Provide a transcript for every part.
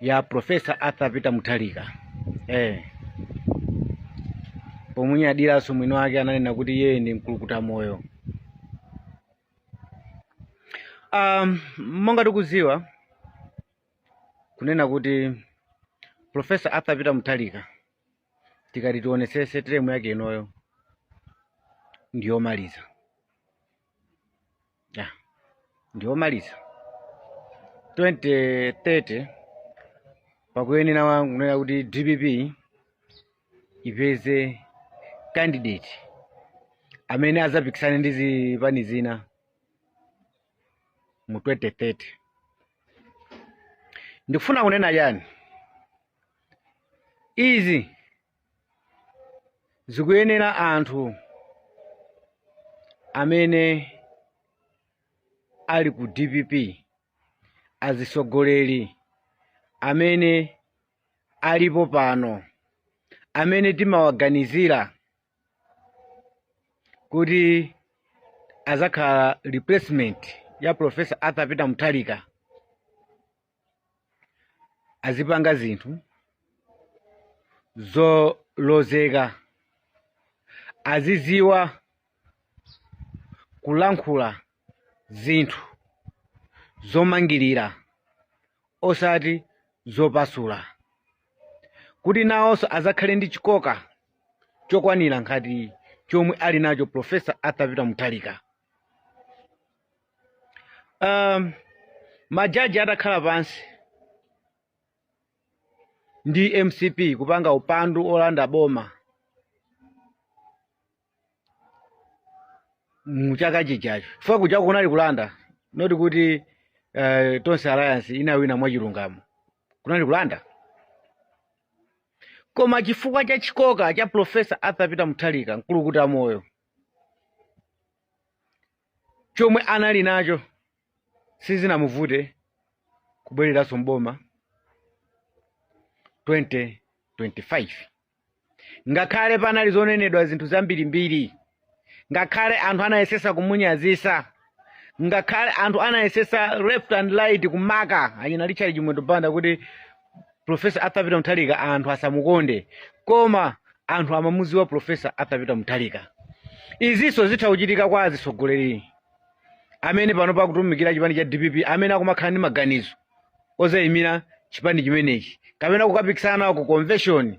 ya Professor Arthur Peter Mutharika eh. pomunyadiranso mwini wake ananena kuti iye ndi mkulukuta moyo um, monga tikuziwa kunena kuti Professor Arthur Peter Mutharika tikati tionesese teremu yake inoyo ndiyomaliza ya ndiyomaliza 2030 pakuyenera wa kunena kuti dpp ipeze candidate amene azapikisane ndi zipani zina mu 2030 ndikufuna kunena chani izi zikuyenera anthu amene ali ku dpp azisogoleri amene alipo pano amene timawaganizira kuti azakhala replacement ya professor arthur peter mutharika azipanga zinthu zolozeka aziziwa kulankhula zinthu zomangirira osati zopasula kuti nawonso azakhale ndi chikoka chokwanira ngati chomwe ali nacho professor arthur peter mutharika um, majaji atakhala pansi ndi mcp kupanga upandu olanda boma muchaka chijacho chifukwa kujako kunali kulanda not kuti uh, tonse alliance inawina mwachilungamo kunali kulanda koma chifukwa cha chikoka cha profesa arthur peter mutharika mkulukuta moyo chomwe anali nacho sizinamuvute kubwereranso mboma 2025 ngakhale panali zonenedwa zinthu zambirimbiri ngakhale anthu anayesesa kumunyazisa ngakhale anthu anayesesa left and right kumaka achina richard chimwendo banda kuti profesa arthur peter mutharika anthu asamukonde koma anthu amamuziwa profesa arthur peter mutharika izinso zitha kuchitika kwa azitsogoleri amene pano akutumikira chipani cha dpp amene akumakhala ndi maganizo ozayimira chipani chimenechi kapena kukapikisana nawo ku convention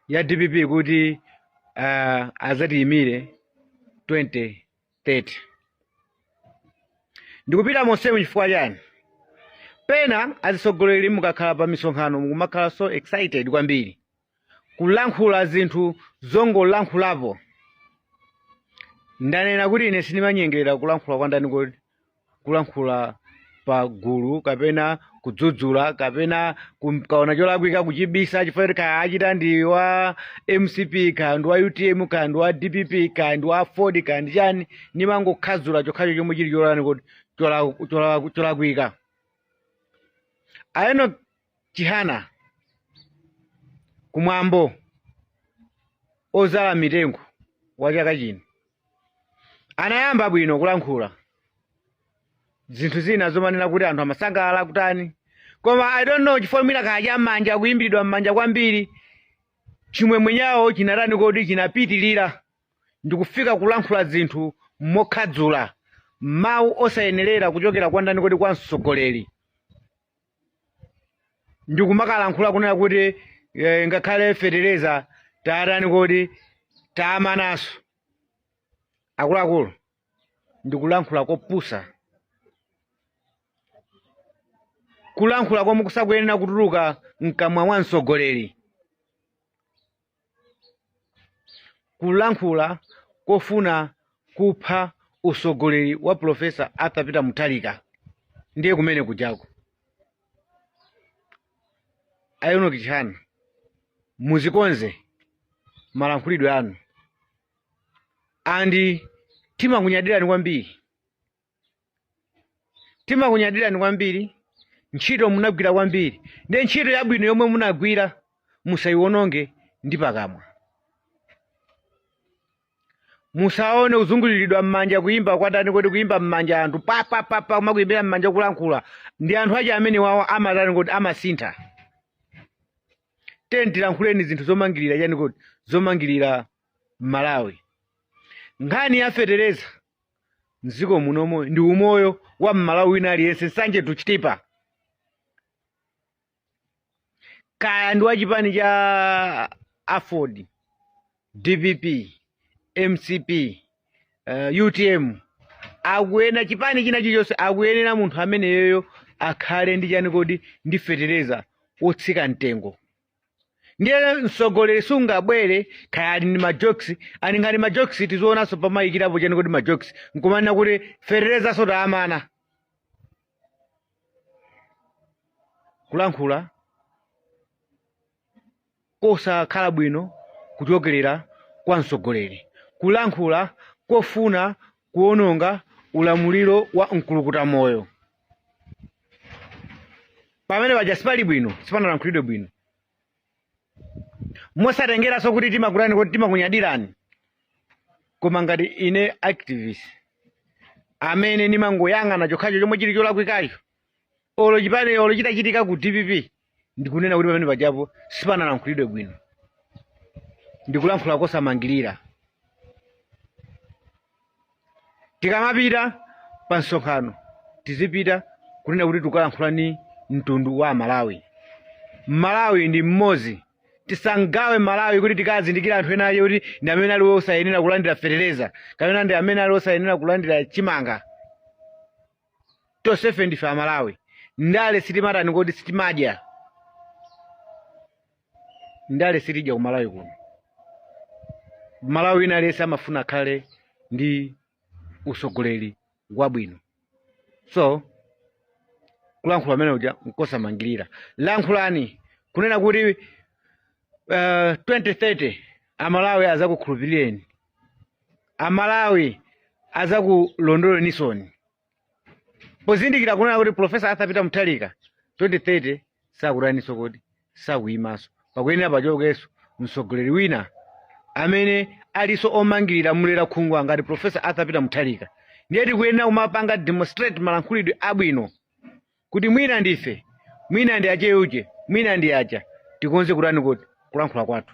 ya dpp kuti uh, azatiyimire 20 30 ndikupita monsemu chifukwa chani pena azitsogoleri mukakhala pa misonkhano mukumakhala so excited kwambiri kulankhula zinthu zongolankhulapo ndanena kuti ine sindimanyengerera kulankhula kwa ndani kodi kulankhula pa gulu kapena kudzudzula kapena kum- kaona cholakwika kuchibisa chifukwa kuti kaya achita ndi wa mcp kaya ndi wa utm kaya ndi wa dpp kaya ndi wa aford kaya ndi chani ndimangokhadzula chokhacho chomwe chili cholani kuti chola- chola- cholakwika a Enoch Chihana, kumwambo ozala mitengo wa chaka chino anayamba bwino kulankhula zinthu zina zomanena kuti anthu amasangalala kutani koma i don't know chifukwa mwina kaya cha m'manja kuimbiridwa m'manja kwambiri chimwemwe chawo chinatani kodi chinapitirira ndikufika kulankhula zinthu mokhadzula mawu osayenerera kuchokera kwa ndani kodi kwa mtsogoleri ndikumakalankhula kunena kuti eh, ngakhale fetereza tawatani kodi tawamanaso akuluakulu ndikulankhula kopusa kulankhula komwe kusakuyenera kutuluka mkamwa mwa mtsogoleri kulankhula kofuna kupha usogoleri wa profesa arthur peter mutharika ndiye kumene kujako a Enoch Chihana muziwakonze malankhulidwe anu andi timakunyadirani kwambiri timakunyadirani kwambiri ntchito munagwira kwambiri ndi ntchito yabwino yomwe munagwira musayiwononge ndi pakamwa musaone kuzunguliridwa m'manja kuyimba kwatani kodi kuyimba m'manja anthu papapapa kumakuyimbira m'manja kulankhula ndi anthu aja amene wawo amatani kodi amasintha teni tilankhuleni zinthu zomangirira chani kodi zomangirira malawi nkhani ya fetereza mdziko munomo ndi umoyo wa mmalawi wina aliyense nsanje to chitipa kaya ndi wa chipani cha aford dpp mcp uh, utm akuyenera chipani china chilichonse akuyenera munthu ameneyoyo akhale ndi chani kodi ndi fetereza wotsika mtengo ndiye mtsogoleri sungabwere kaya ali ndi majokes ali ngati majokes tiziona nawonso pamayikirapo chani kodi majokes nkumanena kuti feterezanso tawamana kulankhula kosakhala bwino kuchokerera kwa mtsogoleri kulankhula kofuna kuononga ulamuliro wa mkulukuta moyo pamene paja sipali bwino sipanalankhulidwe bwino mosatengeranso kuti timakutani kodi timakunyadirani koma ngati ine activist amene ndimangoyang'ana chokhacho chomwe chili cholakwikacho olo chipani olo chitachitika ku dpp ndikunena kuti pamene pajapo sipanalankhulidwe bwino ndikulankhula kosamangirira tikamapita pa msonkhano tizipita kunena kuti tukalankhula ni mtundu wa amalawi malawi ndi mmodzi tisagawe malawi kuti tikazindikira anthu ena ake kuti ndi amene ali osayenera kulandira fetereza kapena ndi amene ali osayenera kulandira chimanga tonsefe ndife amalawi ndale sitimatani kodi sitimadya ndale sitidya ku malawi kuno mmalawi wina aliyense amafuna akhale ndi usogoleri wabwino so kulankhula kumene kuja nkosamangirira lankhulani kunena kuti uh, 2030 amalawi azakukhulupirireni amalawi azakulondolaninsoni pozindikira kunena kuti profesa arthur peter mutharika 2030 sakutaniso kodi sakuyimaso pakuyenera pachokeso mtsogoleri wina amene aliso omangirira mulera khungwa ngati profesa arthur peter mutharika ndiye tikuyenera kumapanga demonstrate malankhulidwe abwino kuti mwina ndife mwina ndi acheuje mwina ndi acha tikonze kutani kodi kulankhula kwathu